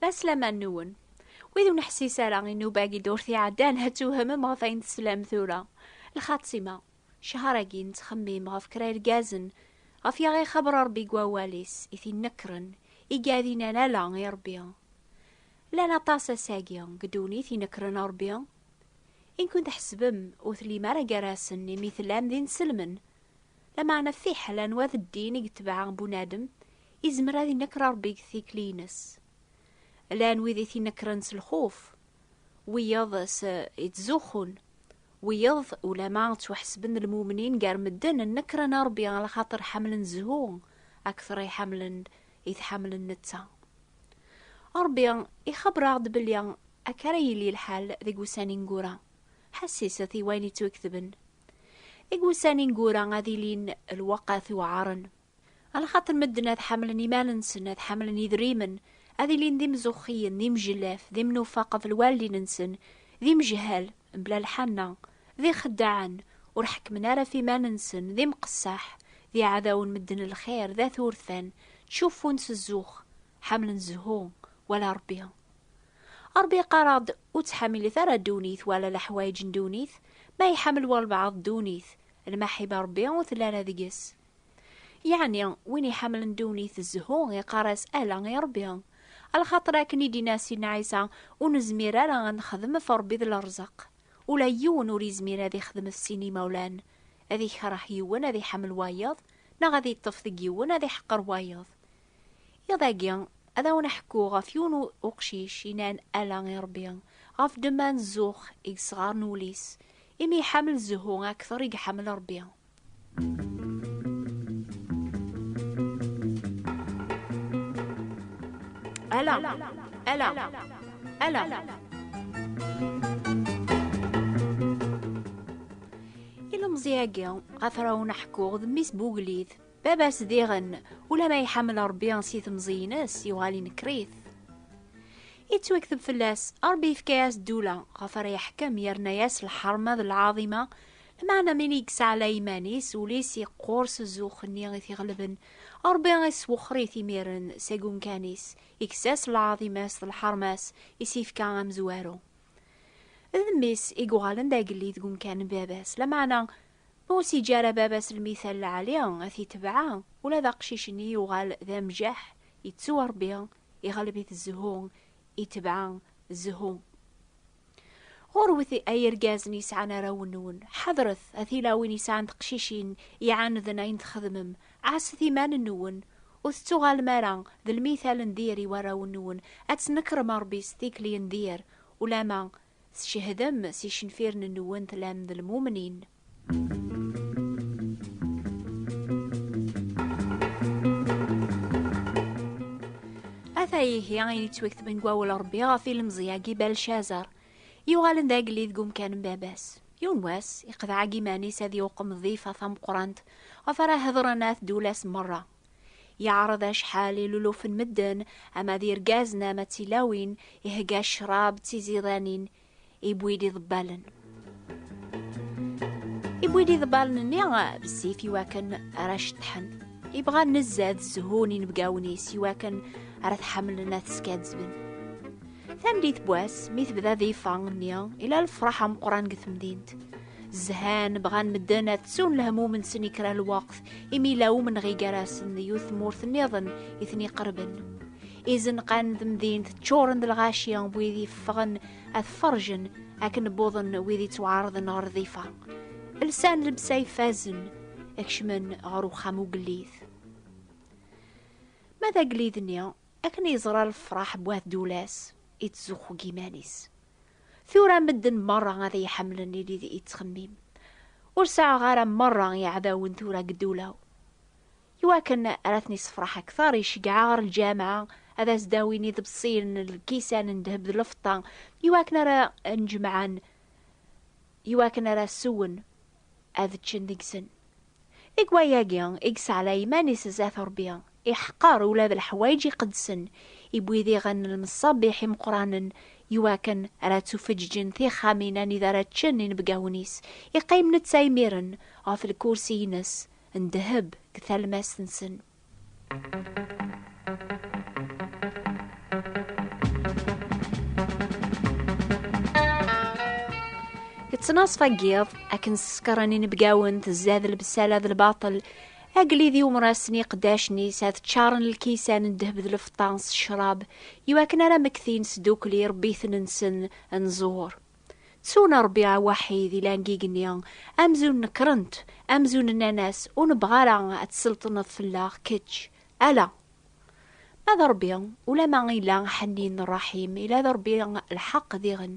D aslaman nwen. Wid ur neḥsis ara i nnuba-agi d urti iɛeddan, ad tewhemem ɣef ayen teslam tura. Lxatima, ccehar-agi nettxemmim ɣef kra irgazen, ɣef yaɣ ixaber Rebbi deg wawal-is, i t-inekkren, i gadinan ala i Rebbi. Llan aṭas ass-agi deg ddunit inekkren Rebbi. Inkun tḥesbem ur tellim ara gar-asen imi tellam d inselmen, Lameɛna fiḥel anwa d ddin i yetbeɛ bunadem, izmer ad inekker Ṛebbi deg tikli-ines. Llan wid i t-inekkren s lxuf, wiyeḍ s ittzuxxun, wiyeḍ ulamma ttwaḥesben d lmumnin gar medden, nekkren Ṛebbi ɣer lxaṭer ḥemmlen zzhu akteṛ i ḥemmlen i t-ḥemmlen netta. Ṛebbi ixebber-aɣ-d belli akka ara yili lḥal deg wussan ineggura. Ḥesseset i wayen yettwaketben. Deg wussan ineggura ad ilin lweqt iweɛren. Lxaṭer medden ad ḥamlen iman-nsen, ad ḥamlen idrimen, ad ilin d imzuxxiyen, d imjellaf, d imnufa qbel wallin-nsen, d imejhal, mebla lḥanna, d ixeddaɛen, ur ḥekkmen ara ɣef iman-nsen, d imqessaḥ, d iɛdawen medden n lxir, d at urfan, ttcuffun s zzux. ḥamlen zhu wala Rebbi. Rebbi yeqqar-aɣ-d ur ttḥamilit ara ddunit wala leḥwayeǧ n ddunit, ma iḥamel walbeɛḍ ddunit, lmaḥiba Rebbi ur telli ara deg-s. Yeɛni win iḥamlen ddunit zhu iqqar-as ala i Rebbi. Lxaṭer akken i d-inna Sidna Ɛisa, ur nezmir ara ad nexdem f Rebbi d lerẓeq. Ula yiwen ur izmir ad ixdem f sin imawlan, ad ikreh yiwen ad iḥamel wayeḍ, neɣ ad iṭṭef deg yiwen ad iḥeqqer wayeḍ. Iḍ-agi, ad awen-ḥkuɣ ɣef yiwen n uqcic yennan ala i Ṛebbi, ɣef ddemma n zzux i yesɣaren wul-is, imi iḥamel zzhu akteṛ i iḥamel Ṛebbi. Ala, ala, ala. Ilemẓi-agi, ɣef ara awen-ḥkuɣ, d mmi-s n ugellid. Baba-s diɣen, ula ma iḥemmel Rebbi si temẓiyin-is, yuɣal inekker-it. Yettwakteb fell-as, Rebbi yefka-as ddula, ɣef ara yeḥkem, yerna-as lḥerma d lɛaḍima, lmeɛna mi i yesɛlay iman-is, ul-is yeqqur s zzux-nni i t-iɣelben, Rebbi iswexxer-it imiren seg umkan-is, ikkes-as lɛaḍima-s d lḥerma-s, i s-yefka amezwaru. D mmi-s i yuɣalen d agellid deg umkan n baba-s, lameɛna, Ur s-yeǧǧi ara baba-s lmithal lɛali ad t-yetbeɛ, ula d aqcic-nni yuɣal d amjaḥ, yettuɣ Rebbi, iɣleb-it zzhu, itbeɛ zzhu. Ɣurwet ay irgazen yesɛan arraw-nwen, ḥadret a tilawin yesɛan teqcicin iɛaneden ayen txedmem, ɛasset iman-nwen, ur tettuɣalem ara d lmithal n dir i warraw-nwen, ad tnekrem Rebbi s tikli n dir, ulamma Tcehdem s icenfiren-nwen tlam d lmumnin. Ata ihi ayen yettwaktben deg wawal Rebbi ɣef ilemẓi-agi Balcazar, yuɣalen d agellid deg umkan n baba-s. Yiwen wass, iqeḍɛa deg iman-is ad iwqem ḍḍifa tameqqrant ɣef ara hedren at Dulas merra, Yeɛreḍ acḥal ilulufen medden, ama d irgazen ama d tilawin, ihegga ccrab d tiziḍanin, iwwi-d iḍebbalen. Iwwi-d iḍebbalen-nni bessif iwakken ara ceṭṭḥen. Ibɣa nezzad zzhun inebgawen-is iwakken ara t-ḥemmlen ad t-skaddben. Tameddit n wass, mi tebda difa-nni, ila lefraḥ ameqqran deg temdint. Zhan bɣan medden ad ttun lehmum-nsen i kra lweqt, imi la umenɣi gar-asen d yiwet tmurt nniḍen i ten-iqerben. Izenqan n temdint ččuren d lɣaci n wid yeffɣen ad ferjen akken wwḍen wid yettwaɛerḍen ɣer rdifa. Lsan lebsa ifazen, kecmen ɣer uxxam ugellid. Ma d agellid-nni, akken yeẓra lefraḥ n wat Dulas, yettzuxxu deg yiman-is. Tura medden merra ad iyi-ḥemmlen ili d ittxemmim. Ur sɛuɣ ara merra iɛdawen tura deg ddula-w. Iwakken ara ten-issefraḥ akter, iceggeɛ ɣer lǧameɛ ad as-d-awin iḍebsiyen n lkisan n ddheb d lfeṭṭa iwakken ara nn-jemɛen iwakken ara sewen ad ččen deg-sen. Deg wayagi i yesɛla iman-is zdat Rebbi, iḥqer ula d leḥwayeǧ iqedsen, iwwi diɣen lmeṣabiḥ imeqqranen iwakken ara ttufeǧǧǧen tixxamin anida ara ččen inebgawen-is, iqqim netta imiren ɣef lkursi-ines n ddheb deg talmast-nsen. Yettnaṣf agiḍ akken ssekren inebgawen tezad lebsala d lbaṭel agellid iwemrasen iqeddacen-is ad ččaren lkisan n ddheb d lfeṭṭa s ccrab iwakken ara mmektin sdukli rebbi-ten-nsen nẓur. Ttun Ṛebbiɛ waḥid i langigenni, amzun nekrent, amzun nnan-as, ur nebɣa ara ad tselṭneḍ fell-aɣ kečč, ala! Ma d Ṛebbi, ulamma ila Ḥennin Ṛṛaḥim, ila d Ṛebbi lḥeqq diɣen.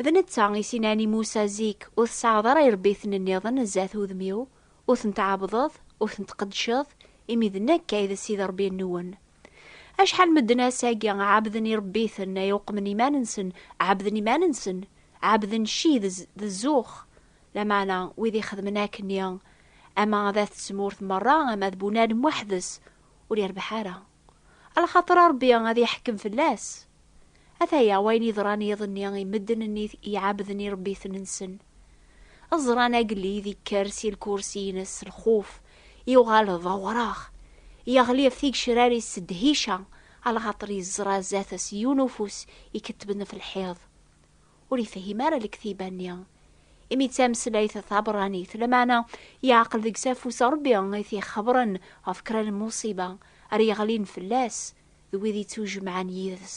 D netta i s-inan i Musa zik, ur tesɛaɣeḍ ara iṛebbiten-nniḍen zdat udem-iw. Ur ten-tɛabdeḍ, ur ten-tqeddceḍ, imi d Nekk ay d Ssid Rebbi-nwen. Acḥal n medden ass-agi ɛebden irebbiten ay uqmen iman-nsen, ɛebden iman-nsen, ɛebden cci d d zzux, lameɛna wid ixedmen akkenni, ama ad at tmurt merra ama d Bunadem weḥd-s, ur irbeḥ ara. Alxaṭer Ṛebbi ad iḥkem fell-as. Ataya wayen yeḍran yiḍ-nni i medden-nni iɛabden iṛebbiten-nsen. Ẓran agellid ikker si lkursi-ines s lxuf, yuɣal d awṛaɣ, yeɣli ɣef tigecrar-is s ddhica, alxaṭer yeẓra zdat-s yiwen ufus ikettben ɣef lḥiḍ. ur ifehim ara lektiba-nni, imi d tameslayt tabṛanit, lameɛna yeɛqel deg-s afus n Ṛebbi i t-ixebṛen ɣef kra n lmuṣiba ara yeɣlin fell-as d wid yettujemɛen yid-s.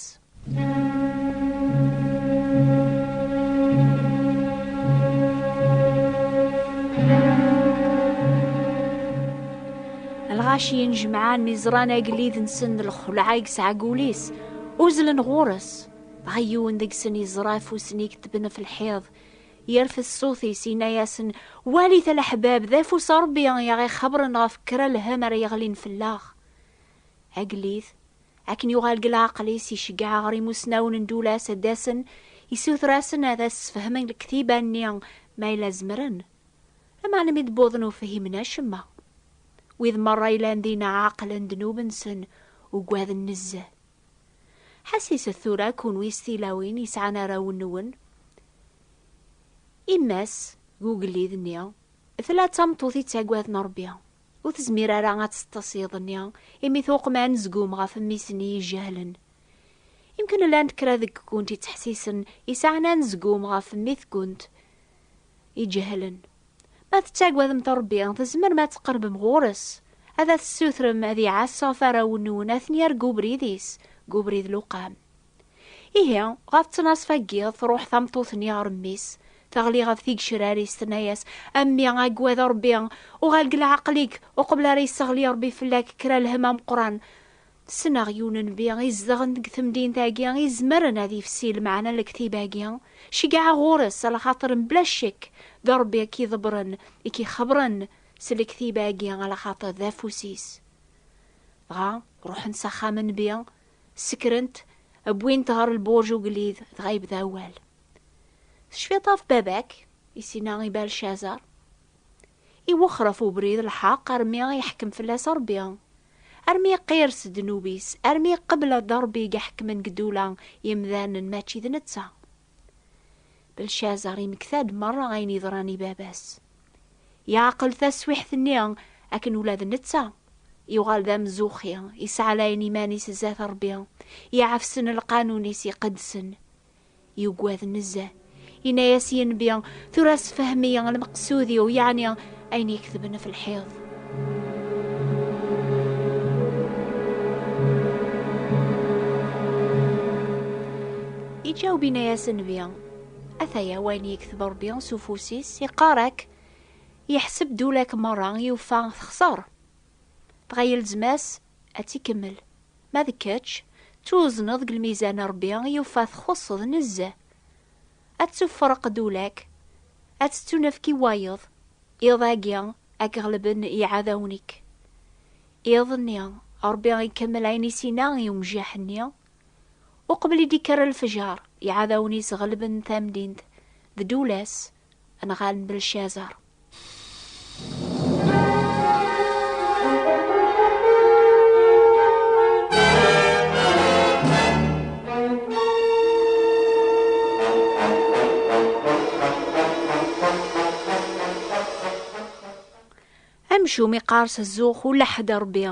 Lɣaci injemɛen mi ẓran agellid-nsen d lxelɛa i yesɛa deg wul-is, uzzlen ɣur-s, Dɣa yiwen deg-sen yeẓra afus-nni iketben ɣef lḥiḍ, yerfed ṣṣut-is, yenna-yasen, Walit a leḥbab, d afus n Ṛebbi i aɣ-ixebren ɣef kra lhemm ara yeɣlin fell-aɣ. Agellid, akken yuɣal deg leɛqel-is, iceggeɛ ɣer imusnawen n Dulas ad d-asen, issuter-asen ad as-sfehmen lektiba-nni, ma yella zemren. Lameɛna mi d-wwḍen ur fhimen acemma. Wid merra yellan dinna ɛeqlen ddnub-nsen, ugaden nezzeh. Ḥassiset tura kunwi s tilawin yesɛan arraw-nwen. Yemma-s deg ugellid-nni tella d tameṭṭut yettaggaden Ṛebbi. Ur tezmir ara ad teṭṭes iḍ-nni imi tuqem anezgum ɣef mmi-s-nni ijehlen. Yemkin llant kra deg-kunt yettḥessisen yesɛan anezgum ɣef mmi-tkent ijehlen. Ma tettagademt Ṛebbi, tzemrem ad tqerbem ɣur-s, ad as-tessutrem ad iɛass ɣef warraw-nwen, ad ten-yerr deg ubrid-is, deg ubrid luqam. Ihi, ɣef ttnaṣfa n yiḍ, tṛuḥ tameṭṭut-nni ɣer mmi-s, teɣli ɣef tigecrar-is, tenna-yas, A mmi, agad Ṛebbi, uɣal deg leɛqel-ik, uqbel ara yesseɣli Ṛebbi fell-ak kra lhemm ameqqran. Ssneɣ yiwen n bi izedɣen deg temdint-agi izemren ad yefsi lmeɛna n lektib-agi, ceggɛeɣ ɣur-s a lxaṭer mebla ccek d Rebbi i k-iḍebren, i k-ixebren s lektib-agi a lxaṭer d afus-is. Dɣa ruḥent s axxam n bi, sekrent, wwin-t ɣer lburj ugellid, dɣa yebda awal. Tecfiḍ ɣef baba-k? i s-yenna i Balcazar. Iwexxer ɣef ubrid lḥeq armi i iḥkem fell-as Ṛebbi, armi iqqir s ddnub-is, armi iqebbel-d Ṛebbi i iḥekmen deg ddula imdanen mačči d netta. Belcazer imekta-d meṛṛa ayen yeḍran i baba-s. Yeɛqel taswiḥt-nni akken ula d netta, yuɣal d amzuxxi, yesɛalayen iman-is zdat Ṛebbi, iɛefsen lqanun-is iqedsen, Yugad nezzeh. Yenna-yas yenbi, tura sefhem-iyi lmeqsud-iw, yeɛni ayen iketben ɣef lḥiḍ. Iǧaweb yenna-yas nnbi, ataya wayen yekteb Rebbi s ufus-is, iqqar-ak, yeḥseb-d ula-k merra, yufa texṣer. Dɣa yelzem-as Ad tt-ikemmel. Ma d kečč, ttwuzneḍ deg lmizan Rebbi yufa txuṣṣeḍ nezzeh. Ad ttuffreq ddula-k, ad tettunefk i wayeḍ, iḍ agi ad k-ɣelben iɛadawen-ik. Iḍ-nni, Rebbi ikemmel ayen i s-inna i umjaḥ-nni, Uqbel i d-ikker lefjer, iɛadawen-is ɣelben tamdint d ddula-s. Anɣal n Belcazar. amcum iqqars zzux ula ḥedd rebbi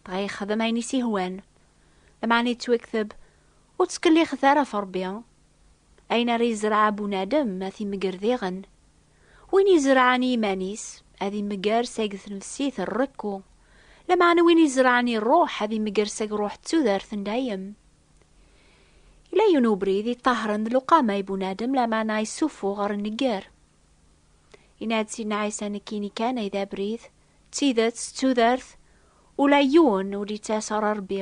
dɣa yexdem ayen i s-ihwan lameɛna yettwakteb ur ttkellixet ara ɣef rebbi Ayen ara izreɛ bunadem ad t-imegger diɣen. Win izerɛen i yiman-is, ad imegger seg tnefsit n rekku, lameɛna win izerɛen i rruḥ ad imegger seg rruḥ d tudert n dayem. Yella yiwen ubrid iṭahren d luqama i bunadem, lameɛna issufuɣ ɣer nnegger. Yenna-d Sidna Ɛisa nekkini kan ay d abrid, d tidet, d tudert, ula yiwen ur d-yettas ɣer Rebbi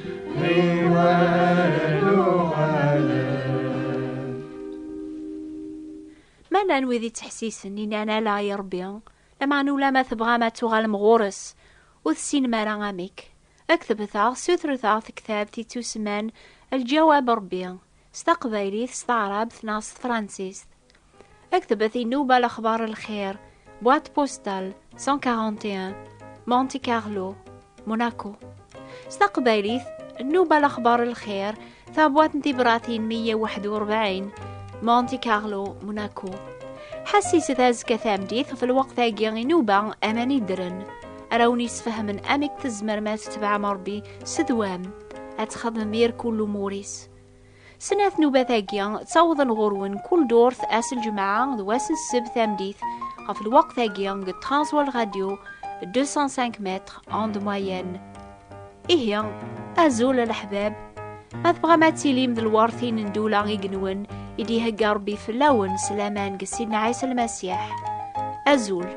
Manan wid yettḥessisen inan ala i Rebbi, lameɛna ulamma tebɣam ad tuɣalem ɣur-s, ur tessinem ara amek. Ad k-tebteɣ, ssutret-aɣ tektabt yettusemman Lǧawab Rebbi, s taqbaylit, s taɛrabt neɣ s tefransist. Aktbet inuba lexbar lxir, boîte postale 141, Monte Carlo, Monaco. S taqbaylit, nnuba lexbar lxir, tabwat n tibratin 141, Monte Carlo, Monaco. Ḥessiset azekka tameddit ɣef lweqt-agi inuba aman iddren. Ara wen-yesfehmen amek tzemrem ad tetbeɛem Rebbi s ddwam, ad txedmem irkul umur-is. Snat nubat-agi ttawḍen ɣur-wen kul durt ass lǧemɛa d wass n sseb tameddit ɣef lweqt-agi deg Transworld Radio 205 mètres onde moyenne. Ihi, azul a leḥbab, ma tebɣam ad tilim d lwertin n ddula i genwen i d-ihegga Rebbi fell-awen s laman deg Sidna Ɛisa Lmasiḥ. Azul!